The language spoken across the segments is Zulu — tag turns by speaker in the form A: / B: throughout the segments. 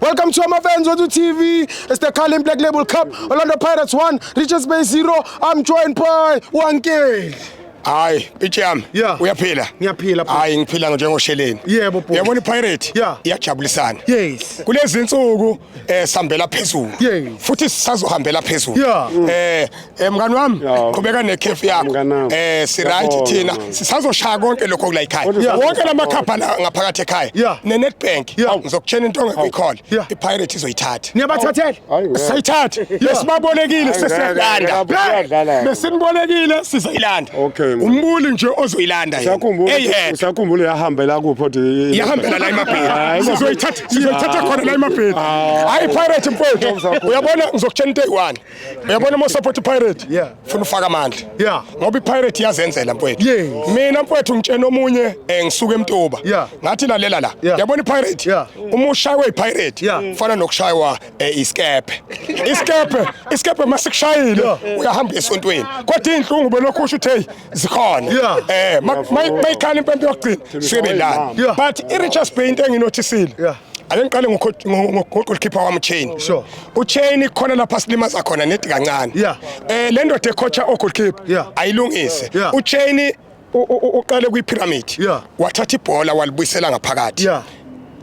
A: Welcome to my fans on TV. It's the Carling Black Label Cup. Orlando Pirates 1, Richards Bay 0. I'm joined by 1K. hayi
B: pitshi yami yeah. uyaphila ngiyaphila hayi
A: ngiphila njengosheleni
B: yebo yeah, yabona
A: ipirate yeah.
B: iyajabulisana yes. kulezi
A: nsuku
B: eh sihambela phezulu yes. futhi
A: sisazohambela
B: phezulu yeah. eh Eh mngani wami qhubeka nekhefu yakho. Eh si right thina sisazoshaya konke lokho kula ekhaya. Wonke lama khapha ngaphakathi ekhaya. Ne Nedbank ngizokutshena into ongekuyikhola. I Pirate izoyithatha. Niyabathathela?
A: Sayithatha.
B: Lesibabolekile sesiyalanda. Besinibolekile sizoyilanda. Umbuli nje ozoyilanda yena. Usakhumbula eh, usakhumbula yahambela
C: kuphi othi yahambela la emabheni.
B: Sizoyithatha sizoyithatha khona la emabheni. Hayi Pirate mfowethu. Uyabona ngizokutshena into eyi-one. uyabona uma usupport ipirate Yeah. funa ufaka amandla Yeah. ngoba ipirate iyazenzela mfowethu Yes. mina mfowethu ngitshena omunye eh, ngisuke emtuba Yeah. ngathi lalela la Yeah. yabona ipirate Yeah. uma ushaywe ipirate Yeah. fana nokushaywa eh, isikebhe isikebhe isikebhe uma sikushayile Yeah. uyahamba esontweni kodwa iy'nhlungu belokhu usho ukuthi heyi zikhona Yeah. eh ma- ma- mayikhala impempe yokugcina suke belala Yeah. but i-richards bay into enginothisile Yeah. Ake ngiqale ngogoalkeeper wami Chain. Sure. UChain ikhona lapha silimaza khona nedi kancane. Yeah. Eh le ndoda ecoacha ogoalkeeper yeah. ayilungise. Yeah. UChain uqale kwi pyramid. Yeah. Wathatha ibhola walibuyisela ngaphakathi. Yeah.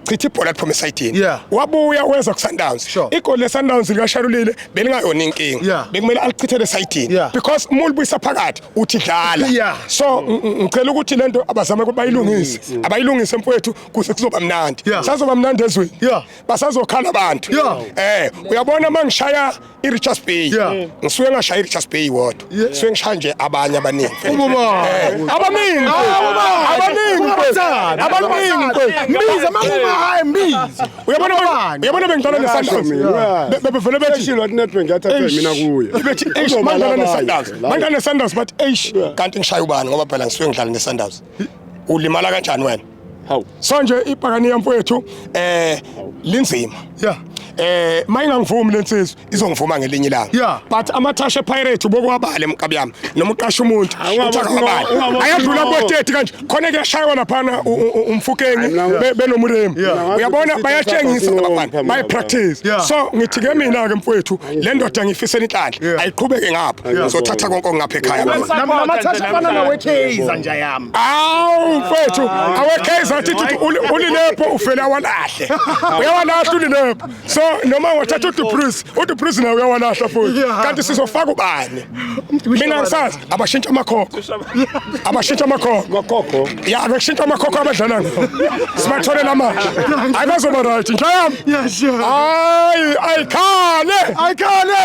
B: chitha ibhola liphuma esayidini yeah. wabuya wenza kusundowns sure. igoli lesundowns likasharulile belingayona inkinga yeah. bekumele alichithele esayidini yeah. because uma ulibuyisa phakathi uthi dlala yeah. so ngicela ukuthi lento abazame ukuthi bayilungise abayilungise mfowethu kuze kuzoba mnandi Yeah. sazoba mnandi ezweni Yeah. basazokhala abantu Yeah. eh uyabona uma ngishaya i-richards bay Yeah. ngisuke ngashaya i-richards bay wodwa ngisuke ngishaya nje abanye abaningi Ubaba. Eh, abaningi abaningi Ubathanda. abaningi Mbiza makuma hayi mbiza. uyabona Ubani? uyabona bengidlala nesundowns Yeah. Be- bebevele bethi Eshilo athi netbank yathatha Eish. mina kuye bethi eish Uzobala mandlala abanye. nesundowns mandlala nesundowns bathi eish kanti ngishaya ubani ngoba phela ngisuke ngidlala nesundowns ulimala kanjani wena Hawu. So nje ibhakaniya mfowethu eh linzima. Yeah. Eh mayingangivumi lensizwe izongivuma ngelinye ilanga. Yeah. But amathashe pirate bokwabale mkabi yami noma uqasha umuntu uthakabale. Ayadlula bo 30 kanje khona kuyashaywa laphana umfukeni benomuremi. Uyabona bayatshengisa abafana. Bayi practice. So ngithi ke mina ke mfowethu le ndoda ngifisa inhlanhla ayiqhubeke ngapha ngizothatha konke okungapha ekhaya namathatha afana
A: nawekeiza nja yami awu mfethu
B: awekeiza athi ulilepho ufele awalahle uyawalahla ulilepho so noma wathatha udupris udupris naye uyawalahla futhi kanti sizofaka ubani mina ngisazi abashintsha amakhokho abashintsha amakhokho Makhokho. ya abashintsha amakhokho abadlala ngawo sibathole lamanje hayi bazoba right inja yami Yeah, sure. hayi ayikhale ayikhale